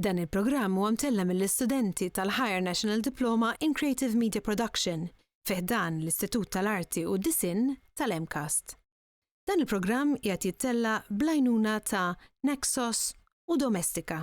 Dan il-programm huwa mtella' mill-istudenti tal-Higher National Diploma in Creative Media Production fi ħdan l-Istitut tal-Arti u d-Disinn tal-MCAST. Dan il-programm qiegħed jittella' bl-għajnuna ta' Naxos u Domestika.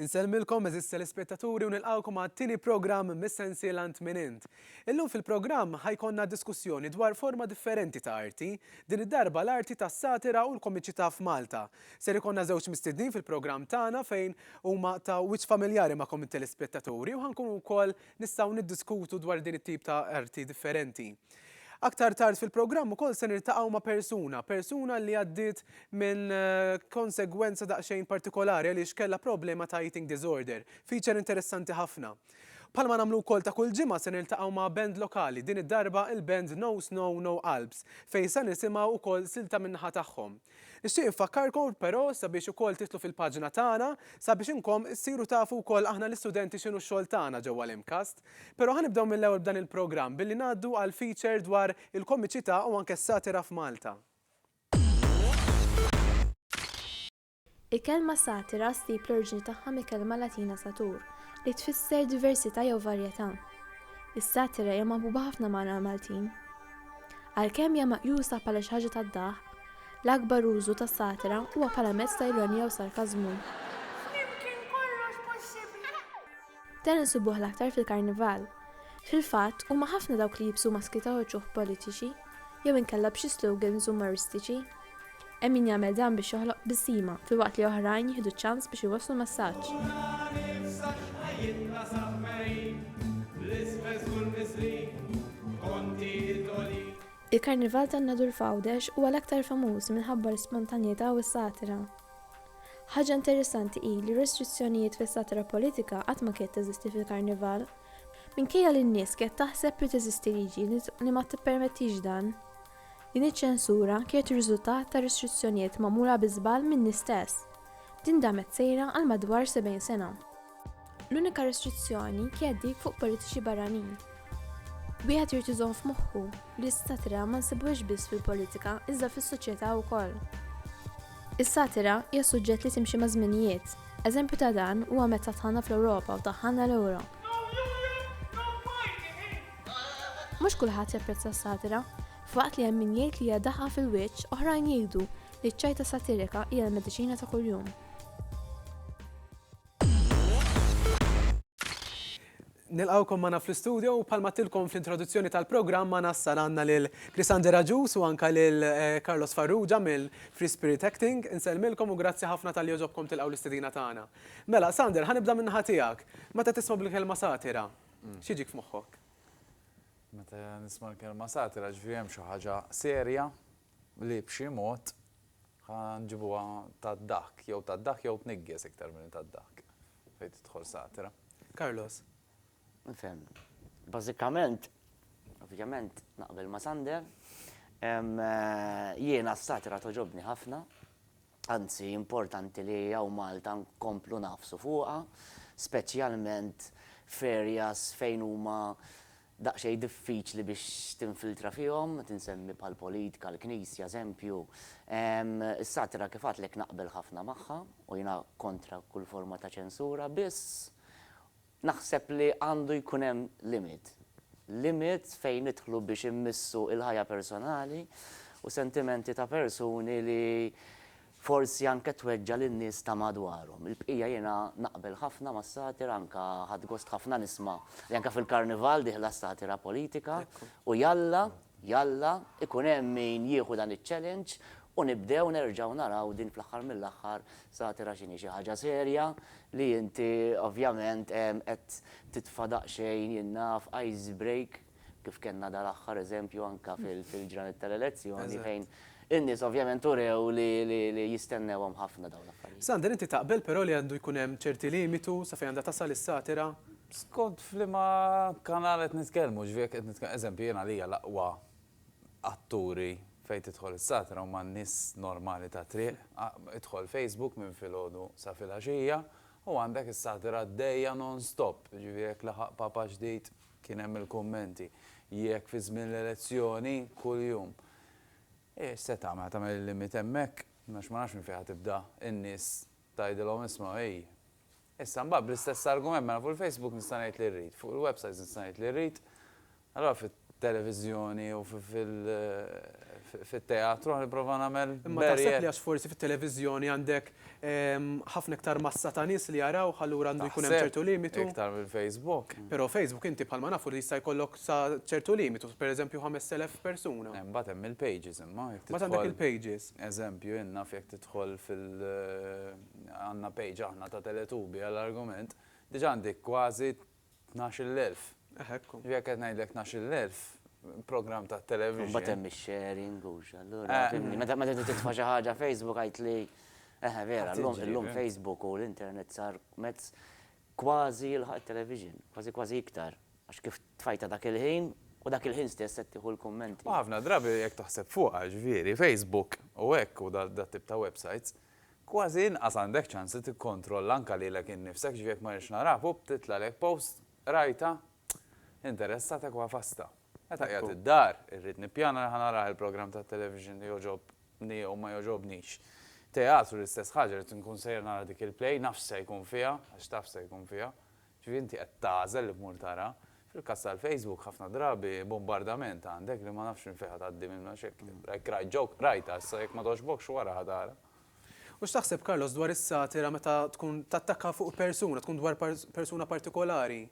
Insellmilkom eżis telespettaturi u nilqgħukom għat-tieni programm mis-sensiela Int Min Int. Illum fil-programm ħa jkollna diskussjoni dwar forma differenti ta' arti, din id-darba l-arti tas-satira u l-komiċità f'Malta. Ser ikollna żewġ mistednin fil-programm tagħna fejn huma ta' wiċċ familjari magħkom it-telespettaturi u ħa nkunu wkoll Nistgħu niddiskutu dwar din it-tip ta' arti differenti. Aktar tard fil-programm ukoll se niltaqgħu ma' persuna, persuna li għaddiet minn konsegwenza daqsxejn partikolari għaliex kellha problema ta' eating disorder. Feature interessanti ħafna. Bħalma nagħmlu wkoll ta' kull ġimgħa se niltaqgħu ma' band lokali, din id-darba il-band No Snow No Alps, fejn sa nisimgħu ukoll silta min-naħa tagħhom. Nixtieq infakkarkom però sabiex ukoll tidħlu fil-paġna tagħna sabiex inkom issiru tafu wkoll aħna l-istudenti x'inhu x-xogħol tagħna ġewwa l-MCAST. Però ħa nibdew mill-ewwel b'dan il-programm billi ngħaddu għal feature dwar il-komiċità u anke s-satira f'Malta. Il-kelma satira ssib l-oriġini tagħha mill-kelma Latina satur, li tfisser diversità jew varjetà. Is-satira hija maħbuba ħafna magħna l-Maltin. Għalkemm hija meqjusa bħala xi ħaġa tad-daħk, l-akbar użu tas-satira huwa bħala mezz ta' ironija u sarkażmu. Dan insibuh l-aktar fil-Karnival. Fil-fatt, huma ħafna dawk li jibsu maski ta' uċuħ politiċi, jew inkella b'xi slogans umoristiċi. Hemm min jagħmel dan biex joħloq tbissima, filwaqt li oħrajn jieħdu ċ-ċans biex iwasslu messaġġ. Il-Karnival tan-Nadur f'Għawdex huwa l-aktar famuż minħabba l-ispontanjetà u s-satira. Ħaġa interessanti hi li restrizzjonijiet fis-satira politika qatt ma kiet teżisti fil-Karnival. Minkejja li n-nies kiet taħseb li teżisti liġi li ma tippermettix dan. Din iċ-ċensura kienet riżultat ta' restrizzjonijiet magħmula bi żball min-nies stess. Din damet sejra għal madwar 70 sena. L-unika restrizzjoni kienet dik fuq politiċi barranin. Wieħed irid iżomm f'moħħu li l-satira ma nsibuhiex biss fil-politika iżda fis-soċjetà wkoll. Is-satira hija suġġett li timxi maż-żminijiet. Eżempju ta' dan huwa meta tħanna fl-Ewropa u taħħanna l-Ewro. Mhux kulħadd japprezza s-satira, f'waqt li hemm min jgħid li hija daħqa fil-wiċċ, oħrajn jgħidu li ċ-ċajta satirika hija l-mediċina ta' kuljum. Nilqgħukom magħna fl-istudio u bħalma tilkom fl-introduzzjoni tal-programm ma nassal għandna lil Krisander Agius u anke lil eh, Carlos Farrugia mill-Free Spirit Acting. Insellmilkom u grazzi ħafna tal-li joġobkom tilqgħu l-istedina tagħna. Mela, Sander, ħanibda min-naħa tiegħek. Meta tisma' bil-kelma satira, mm. x'jiġik f'moħħok? Meta nisma' l-kelma satira ġifieri hemm xi ħaġa serja li b'xi mod Ħa nġibuha tad-daħk, jew tad-daħk jew tniggis iktar milli tad-daħk, fejn tidħol satira. Carlos. Nifhem. Bażikament, ovvjament naqbel ma' Sander. Jiena s-satira togħġobni ħafna, anzi importanti li hawn Malta nkomplu ngħafsu fuqha, speċjalment f'areas fejn huma daqsxejn diffiċli biex tinfiltra fihom, qed insemmi bħall-politika, l-Knisja, eżempju. Is-satira kif għadtlek naqbel ħafna magħha u jiena kontra kull forma ta' ċensura, biss naħseb li għandu jkun hemm limit. Limit fejn nidħlu biex immissu l-ħajja personali u sentimenti ta' persuni li Forsi anke tweġġa' lin-nies ta' madwarhom. Il-bqija jiena naqbel ħafna mas-satira anke ħadt gost ħafna nisma' li anke fil-Karnival dieħla s-satira politika u jalla, jalla, ikun hemm min jieħu dan iċ-challenge u nibdew nerġgħu naraw din fl-aħħar mill-aħħar satira x'inhi xi ħaġa serja li inti ovvjament qed titfa' daqsxejn jien naf ice break kif kellna dal-aħħar eżempju anke fil-ġranet tal-elezzjoni fejn in-nies ovvjament urew li jistennewhom ħafna dawn l-affarijiet. Sander, inti taqbel però li għandu jkun hemm ċerti limitu sa fejn għandha tasal is-satira? Skont f'liema kanal qed nitkellmu, ġifieri jekk qed nitkellmu, eżempju, jien għalija l-aqwa atturi fejn tidħol is-satira huma n-nies normali tat-triq, idħol Facebook minn filgħodu sa filgħaxija u għandek is-satira għaddejja non-stop, ġifieri jekk laħaq papa ġdid, Kien hemm il-kummenti, jekk fi żmien l-elezzjoni, kuljum. Eh, x'se tagħmel, tagħmel il-limit hemmhekk? Għax ma nafx minn fejn ħa tibda n-nies tgħidilhom isma' hi. Issa mbagħad bl-istess argument mela fuq il-Facebook nista' ngħid li rrid, fuq il-websites nista' ngħid li rrid, allura fit-televiżjoni u fit-teatru ħa nipprova nagħmel barrier. Imma taħseb li għax forsi fit-televiżjoni għandek Ħafna iktar massa ta' nies li jarawh, allura għandu jkun hemm ċertu limitu. Taħseb, iktar minn Facebook? Però Facebook inti bħalma nafu li jista' jkollok sa ċertu limitu, pereżempju 5,000 persuna. Imbagħad hemm il-pages imma jekk tidħol. Imbagħad għandek il-pages. Eżempju, in naf jekk tidħol fil għandna page aħna ta' Teletubi għall-argument, diġà għandi kważi Tnax-il elf. Eh hekk hu. Jekk qed ngħidlek tnax-il elf, programm tat-television. Imbagħad hemm ix-sharing u x', allura fimni. Meta meta trid titfa' xi ħaġa Facebook għidtli, eħe vera, llum illum Facebook u l-internet sar mezz kważi jilħaq it-television, kważi kważi iktar. Għax kif tfajtha dak il-ħin u dak il-ħin stess qed tieħu l-kummenti. U ħafna drabi jekk taħseb fuqha, jiġifieri Facebook u hekk u dat-tip ta' websites, Kważi inqas għandek ċans li tikkontrolla anke lilek innifsek, jiġifieri jekk ma rridx naraha, pupp, titlagħlek post, qrajtha, interessatek u għafastha. Meta qiegħed id-dar, irrid nippjana li ħa narah il-programm tat-television li jogħġobni jew ma jogħġobnix. Teatru l-istess ħaġa, rrid inkun sejjer nara dik il-play, naf x'se jkun fiha, għax taf x'se jkun fiha, Ġifieri inti qed tagħżel li tmur tara. Fil-każ tal-Facebook ħafna drabi bombardament għandek li ma nafx minn fejn ħa tgħaddi minnu għax jekk jekk rajt joke, rajtha issa jekk ma togħġbokx wara ħa tara. U x'taħseb Carlos dwar is-satira meta tkun tattakka fuq persuna, tkun dwar persuna partikolari?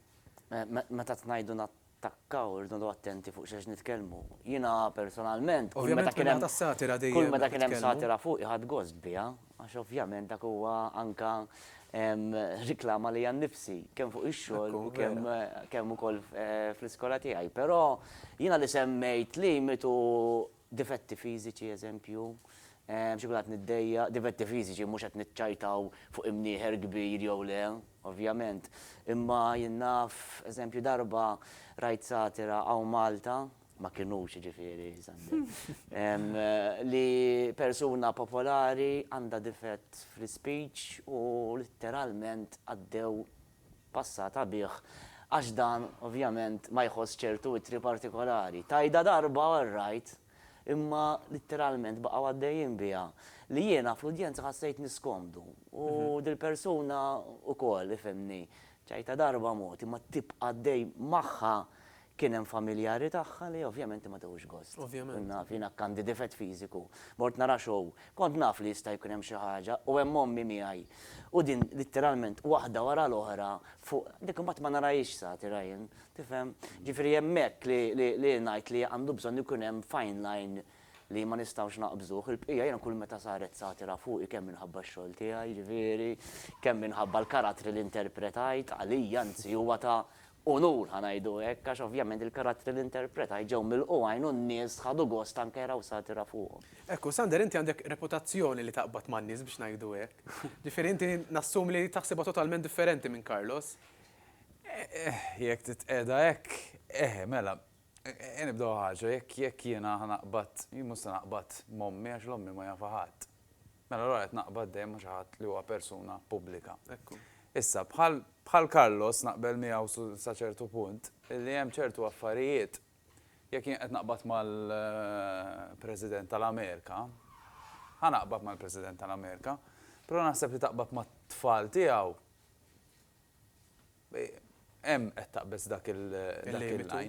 Meta tnajdu Takkaw, irridu noqogħdu attenti fuq x'ex nitkellmu. Jiena personalment, kull meta kien hemm, kull meta kien hemm satira fuqi ħadt gost biha, għax ovvjament dak huwa anke riklama lejja nnifsi, kemm fuq ix-xogħol u kemm, kemm ukoll fl-iskola tiegħi. Però jiena li semmejt limitu Difetti fiżiċi, eżempju, Biex ikun qed niddejjaq, difetti fiżiċi, mhux qed niċċajtaw fuq imnieħer kbir jew le, ovvjament. Imma jien naf, eżempju, darba rajt satira hawn Malta, ma kinux jiġifieri, Sander, li persuna popolari għandha difett fl-ispeech u litteralment għaddew passata bih għax dan ovvjament ma jħoss ċertu ittri partikolari. Tgħidha darba all right, imma litteralment baqgħu għaddejjin biha li jiena fl-udjenza ħassejtni niskomdu u dil-persuna ukoll, ifhimni. Tgħidha darba mod, imma tibqa' għaddej magħha Kien hemm familjari tagħha li ovvjament ma tewx gost. Ovvjament. Kont naf, jiena għandi difett fiżiku. Mort nara show. Kont naf li jista' jkun hemm xi ħaġa u hemm ommi miegħi. U din litteralment waħda wara l-oħra fuq, dik imbagħad ma narahiex sati, Ryan. Tifhem? Ġifieri hemmhekk li ngħid li għandu bżonn ikun hemm fine line li ma nistgħux naqbżuh. Il-bqija jiena kull meta saret satira fuqi kemm minħabba x-xogħol tiegħi, ġifieri, kemm minħabba l-karattri li interpretajt, għalija anzi huwa ta' unur, ħa ngħidu hekk, għax ovvjament il-karattri li interpretajt ġew milqugħin u n-nies ħadu gost anke jaraw satira fuqhom. Hekk hu, Sander inti għandek reputazzjoni li taqbad man-nies biex ngħidu hekk. Ġifieri inti nassumi li taħsibha totalment differenti minn Carlos. Eħ, jekk titqiegħda hekk, eħe, mela, eħe nibdew ħaġa, jekk jiena ħa naqbad, jien mhux se naqbad m'ommi għax 'l ommi ma jafha ħadd. Mela allura qed naqbad dejjem ma' xi ħadd li huwa persuna pubblika. Ekku. Issa, bħal bħal Carlos naqbel miegħu su sa ċertu punt, li hemm ċertu affarijiet, jekk jien qed naqbad mal President tal-Amerika, ħa naqbad mal President tal-Amerika, però naħseb li taqbad mat-tfal tiegħu, Hemm qed taqbeż dak il-limitu.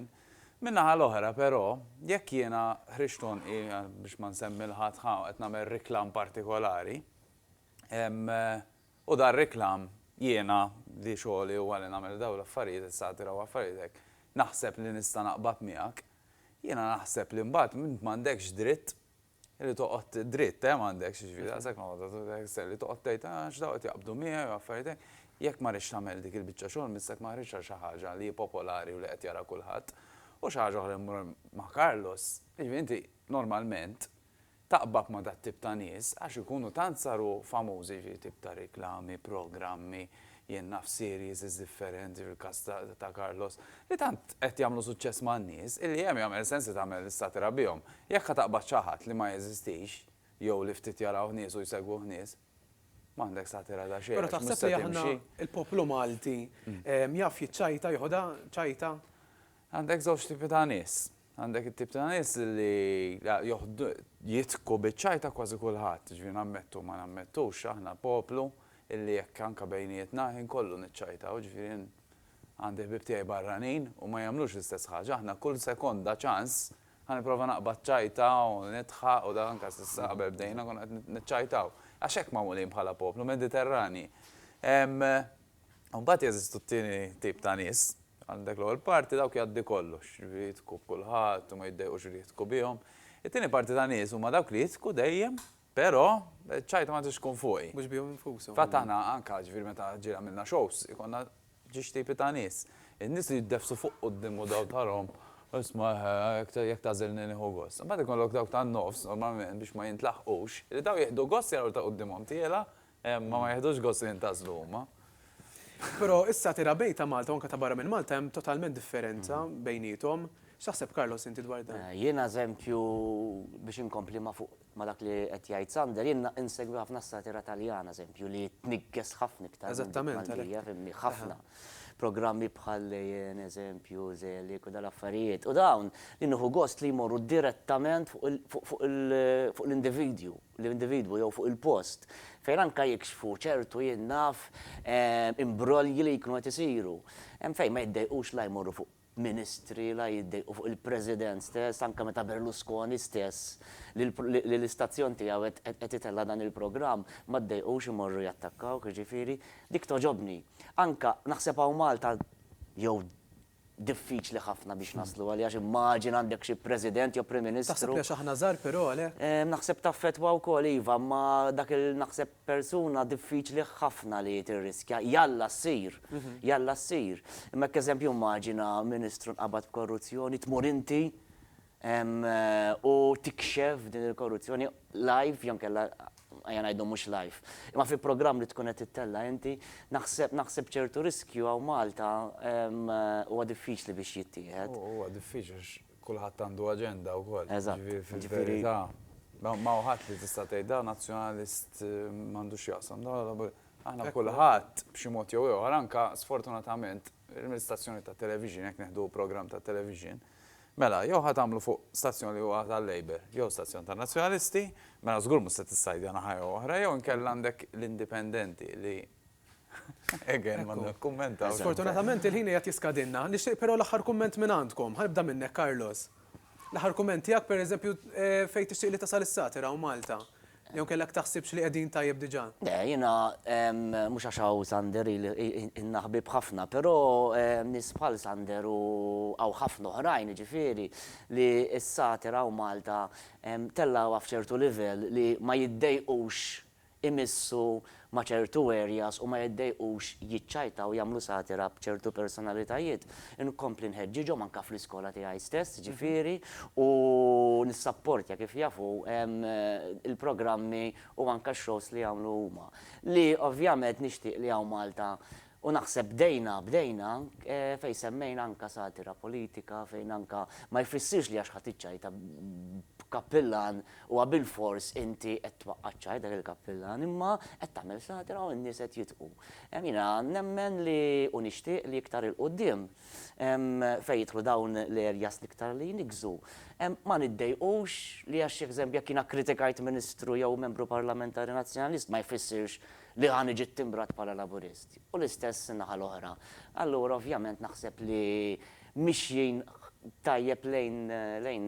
Min-naħa l-oħra, però, jekk jiena ħriġt għonqi, biex ma nsemmi 'l ħadd, ħa qed nagħmel riklam partikolari, u dan riklam jiena li xogħli huwa li nagħmel dawn l-affarijiet, is-satira u affarijiet hekk, naħseb li nista' naqbad miegħek, jiena naħseb li mbagħad int m'għandekx dritt Li toqgħod dritt, eh, m'għandekx, jiġifieri daqshekk ma toqgħod li toqgħod tgħid, ah, għax dawn qed jaqbdu miegħi u affarijiet hekk. Jekk ma rridx tagħmel dik il-biċċa xogħol mistek ma ħriġtx għal xi ħaġa li hi popolari u li qed jara kulħadd. U xi ħaġa oħra jmur ma' Carlos, jiġifieri inti normalment taqbad ma' dat-tip ta' nies għax ikunu tant saru famużi, jiġifieri tip ta' riklami, programmi, Jien naf series differenti fil-każ ta' Carlos li tant qed jagħmlu suċċess man-nies illi hemm jagħmel sens li tagħmel satira bihom. Jekk ħa taqbad xi ħadd li ma jeżistix jew li ftit jarawh nies u jsegwuh nies, m'għandek satira ta' xejn għax mhux se timxi. Però taħseb li aħna l-poplu Malti jaf jiċċajta, jeħodha ċajta? Għandek żewġ tipi ta' nies. Għandek it-tip ta' nies li joħdu, jidħku biċ-ċaj ta' kważi kulħadd, jiġifieri nammettu ma nammettux, aħna poplu illi jekk anke bejnietna ħin kollu niċċajtaw, jiġifieri jien għandi ħbieb tiegħi barranin u ma jagħmlux l-istess ħaġa, aħna kull sekonda ċans ħa nipprova naqbad ċajta u nidħaq u dak anke s'issa qabel bdejna konna qed niċċajtaw għax hekk magħmulin bħala poplu, Mediterranji. U mbagħad jeżistu t-tieni tip ta' nies, għandek l-ewwel parti dawk jgħaddi kollox, jiġifieri jidħku b'kulħadd u ma jiddejqux li jidħku bihom. It-tieni parti ta' nies huma dawk li jidħku dejjem, però ċ-ċajta ma tridx tkun fuqi. Mhux bihom infushom. Fil-fatt aħna anke, jiġifieri meta ġieli għamilna shows, ikollna ġiex tipi ta' nies. In-nies li jiddefsu fuq quddiem u daw tharahom, isma' jekk tagħżilni nieħu gost. Imbagħad ikollok dawk tan-nofs, normalment biex ma jintlaħqux, li daw jieħdu gost jaraw li ta' quddiemhom tiela' Imma ma jiħdux gost li jintgħażlu huma. Però issa tira bejn ta' Malta u anke ta' barra minn Malta hemm totalment differenza bejniethom. X'taħseb Carlos inti dwar dan? Jiena eżempju biex inkompli ma' fuq ma' dak li qed jgħid Sander, jien insegwi ħafna s-satira Taljana eżempju li tniggeż ħafna iktar minn dik Maltija, fhimni, ħafna. Programmi bħal Lejien, eżempju, Zelig u dal-affarijiet. U dawn li nieħu gost li jmorru direttament fuq l-individwu. l-individwu jew fuq il-post, fejn anke jikxfu ċertu, jien naf, imbrolji li jkunu qed isiru. Hemm fejn ma jiddejqux la jmorru fuq ministri, la jiddejqu fuq il-President stess, anke meta Berlusconi stess, li l-istazzjon tiegħu qed itella' dan il-programm, ma ddejqux imorru jattakkawh, jiġifieri, dik togħġobni. Anke, naħseb hawn Malta, jew diffiċli ħafna biex naslu għaliha għax immaġina għandek xi President jew Prim Ministru. Taħseb li għax aħna żgħar però għalhekk? Naħseb taffettwa wkoll iva, imma dak il naħseb persuna diffiċli ħafna li tirriskja. Jalla ssir, jalla ssir. Imma hekk eżempju immaġina Ministru nqabad b'korruzzjoni, tmur inti u tikxef din il-korruzzjoni live jew inkella ejja ngħidu mhux live. Imma fi programm li tkun qed tittella' inti, naħseb naħseb ċertu riskju hawn Malta huwa diffiċli biex jittieħed. Huwa diffiċli għax kulħadd għandu aġenda wkoll. Eżatt. Fil-verità, ma hu ħadd li tista' tgħid dan Nazzjonalist m'għandu x'jaqsam. Aħna kulħadd b'xi mod jew ieħor anke sfortunatament Permezz stazzjoni tat-televixin, jekk nieħdu programm tat-televixin, mela jew ħa tagħmlu fuq stazzjon li huwa tal-Labour jew stazzjon tan-Nazzjonalisti, mela żgur mhux se tissajdja naħa jew oħra, jew inkella għandek l-Indipendenti li again ma nikkummentawx. Sfortunatament il-ħin qiegħed jiskadilna. Nixtieq però l-aħħar kumment minn għandkom. Ħa nibda minnek Carlos. L-aħħar kumment tiegħek pereżempju fejn tixtieq li tasal is-satira u Malta. Jew kellek taħsibx li qegħdin tajjeb diġà? Le, jiena, mhux għax hawn Sander ili ilna ħbieb ħafna, però nies bħal Sander u hawn ħafna oħrajn jiġifieri li s-satir hawn Malta tellgħuha f'ċertu livell li ma jiddejqux imissu ma' ċertu areas u ma jiddejqux jiċċajtaw jagħmlu satira b'ċertu personalitajiet, inkompli nħeġġiġhom anke fl-iskola tiegħi stess, ġifieri, u nissapportja kif jafu l-programmi u anke x-shows li jagħmlu huma. Li ovvjament nixtieq li hawn Malta U naħseb bdejna, bdejna, fejn semmejna anke satira politika, fejn anke ma jfissirx li għax ħadt iċ-ċajta b'kappillan huwa bilfors inti qed twaqqa' ċ-ċajt dak il-kappillan, imma qed tagħmel satira u n-nies qed jidħku. Jiena nemmen li u nixtieq li iktar 'il quddiem fejn jidħlu dawn l-areas l-iktar li jniggżu, ma niddejqux li għax jekk jiena kkritikajt Ministru jew Membru Parlamentari Nazzjonalist ma jfissirx li ħa niġi ttimbrat bħala Laburist, u l-istess in-naħa l-oħra. Allura ovvjament naħseb li mixjin tajjeb lejn lejn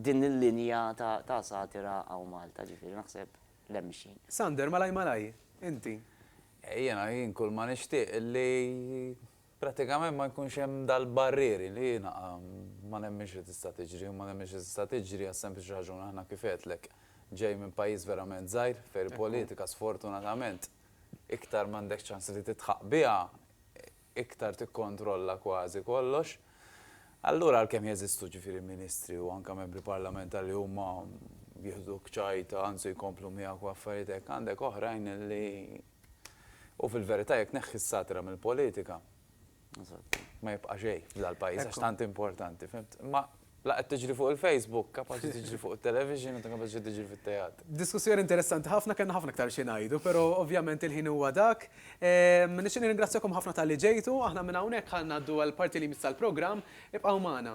din il-linja ta' ta' satira hawn Malta, ġifieri naħseb li hemm mixjin. Sander, malaj malaj, inti? Jiena, jien kulma nixtieq li Prattikament ma jkunx hemm dal-barrieri li jiena ma nemminx li tista' tiġri u ma nemminx li tista' tiġri għas-sempliċi raġuni aħna kif għedtlek ġej minn pajjiż verament żgħir fejn il-politika sfortunatament iktar m'għandek ċans li tidħaq biha iktar tikkontrolla kważi kollox. Allura għalkemm jeżistu ġifieri ministri u anke membri parlamentari li huma jieħduk ċajta anzi jkomplu miegħek u affarijiet hekk għandek oħrajn li U fil-verità jekk tneħħi s-satira mill-politika, ma jibqa' xejn f'dal-pajjiż għax tant importanti, fimt? Imma la qed tiġri fuq il-Facebook, kapaċi tiġri fuq it-television u ta' kapaċi tiġri fit-teatru. Diskussjoni interessanti ħafna, kellna ħafna iktar xi ngħidu, però ovvjament il-ħin huwa dak. Nixtieq nirringrazzjakom ħafna talli ġejtu, aħna minn hawnhekk ħa ngħaddu għall-parti li jmiss tal-programm, ibqgħu magħna.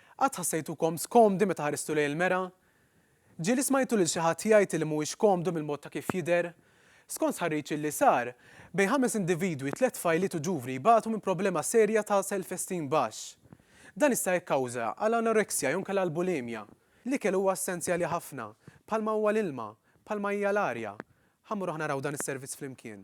Qatt ħassejtukom skomdi meta ħaristu lejn il-mera? Ġieli smajtu lil xi ħadd jgħid li mhuwiex komdu mill-mod ta' kif jidher? Skont stħarriġ illi sar, bejn ħames individwi tliet tfajliet u ġuvni jbatu minn problema serja ta' self-esteem baxx. Dan jista' jikkawża għal anoreksja jew nkella l-bulimja. L-ikel huwa essenzjali ħafna, bħalma huwa l-ilma, bħalma hija l-arja. Ħa mmur aħna naraw dan is-servizz flimkien.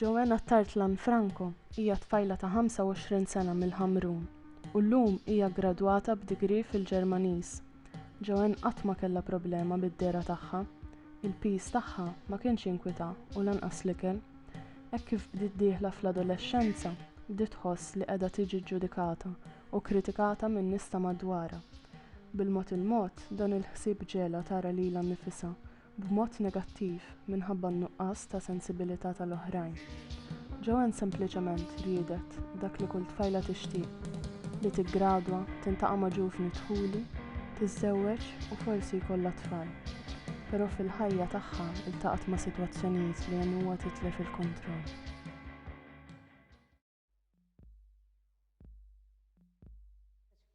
Joana Tartlan Franco hija tfajla ta' 25 sena mill-Ħamrun u llum hija ggradwata b'degree fil-Ġermaniż. Joanne qatt ma kellha problema bid-dehra tagħha. Il-piż tagħha ma kienx jinkwitha u lanqas l-ikel. Hekk kif bdiet dieħla fl-adolexxenza, bdiet tħoss li qiegħda tiġi ġġudikata u kkritikata min-nies ta' madwarha. Bil-mod il-mod, dan il-ħsieb ġegħlha tara lilha nnifisha b'mod negattiv minħabba n-nuqqas ta' sensibilità tal-oħrajn. Joanne sempliċement riedet dak li kull tfajla tixtieq, li tiggradwa, tintaqa' ma' ġuvni dħuli, tiżżewweġ u forsi jkollha tfal. Però fil-ħajja tagħha ltaqgħet ma' sitwazzjonijiet li għenuha titlef il-kontroll.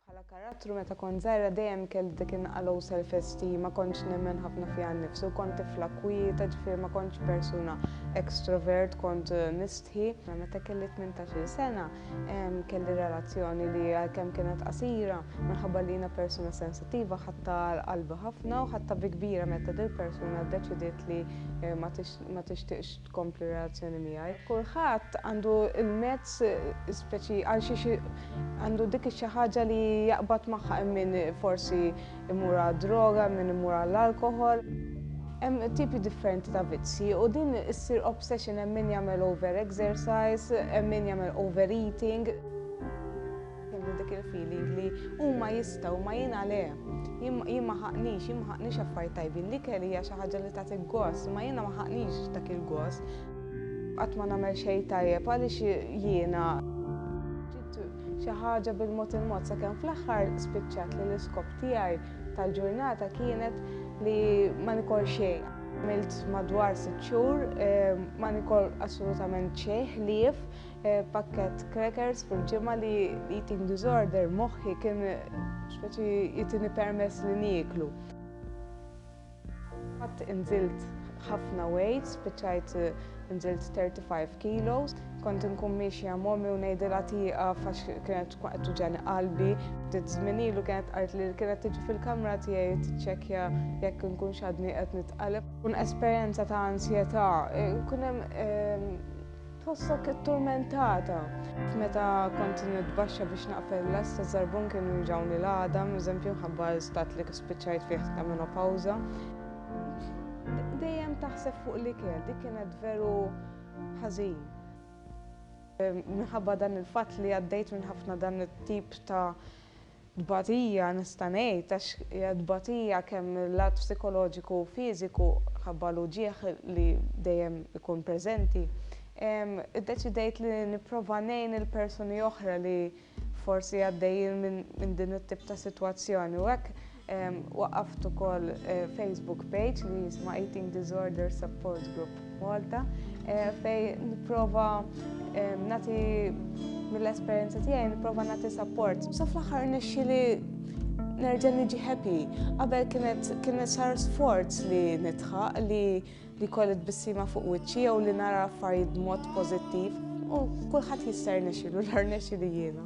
Bħala karattru meta kont żgħira dejjem kelli dik in-naqa' low self esteem, ma kontx nemmen ħafna fija nnifsi u kont tifla kwieta, ġifieri ma kontx persuna extrovert, kont mistħi. Meta kelli tmintax-il sena, Kelli relazzjoni li għalkemm kienet qasira, minħabba li jiena persuna sensittiva ħadta għal qalbi ħafna u ħadta bi kbira meta dil persuna ddeċidiet li ma tixtieqx tkompli relazzjoni miegħi. Kulħadd għandu l-mezz speċi għal xiex għandu dik ix-xi ħaġa li jaqbad magħha hemm min forsi imur għad-droga, min imur għall-alkoħol. Hemm tipi differenti ta' vizzji u din issir obsession hemm min jagħmel over exercise, hemm min jagħmel over eating. Kellu dik il-feeling li huma jistgħu ma jien għale. Jien ma ħaqnix, jien ma ħaqnix affarijiet tajbin, li kelli hija xi ħaġa li tagħti gost, ma jiena ma ħaqnix dak il-gost. Qatt ma nagħmel xejn tajjeb għaliex jiena xi ħaġa bil-mod il-mod sakemm fl-aħħar spiċċat li l-iskop tiegħi tal-ġurnata kienet li ma nikol xejn. Għamilt madwar sitt xhur eh, ma nikol assolutament xejn ħlief eh, pakket crackers fil-ġimgħa li eating disorder moħħi kien speċi jitini permess li nieklu. Qatt inżilt ħafna weight, spiċċajt nżilt 35 kilos. Kont inkun miexja m'ommi u ngħidilha tieqaf għax kienet tkun qed tuġeni qalbi. Ftit żmien ilu kienet qalt li kienet tiġi fil-kamra tiegħi tiċċekkja jekk inkunx għadni qed nitqalleb. Tkun esperjenza ta' ansjetà, ikun hemm Tħossok itturmentata? Meta kont nitbaxxa biex naqfel l-għażż taż-żarbun kienu juġgħuni l-għadam, eżempju mħabba għal stat li spiċċajt fih ta' menopawża. Dejjem taħseb fuq l-ikel, dik kienet veru ħażin. Minħabba dan il-fatt li għaddejt minn ħafna dan it-tip ta' Tbatija nista' ngħid għax hija tbatija kemm mil-lat psikoloġiku u fiżiku ħabba l-uġigħ li dejjem ikun preżenti. Iddeċidejt li nipprova ngħin il-persuni oħra li forsi għaddejjin minn din it-tip ta' sitwazzjoni u hekk waqqaft ukoll Facebook page li jisma' Eating Disorder Support Group. Malta fej nipprova nagħti mill-esperjenza tiegħi nipprova nagħti support. Sa fl-aħħar nixxi li nerġa' niġi happy. Qabel kienet kienet sar sforz li nitħaq li li kolli tbissima fuq wiċċi jew li nara affarijiet b'mod pożittiv u kulħadd jista' rnexxilu l nexxi li jiena.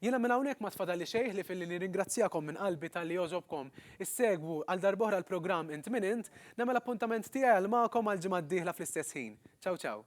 Jiena minn hawnhekk m'għad fadalli xejn ħlief illi nirringrazzjakom minn qalbi talli jogħżobkom issegwu għal darb'oħra l-programm Int Min Int. Nagħmel appuntament tiegħi għal magħkom għall-ġimgħa d-dieħla fl-istess ħin. Ciao ciao.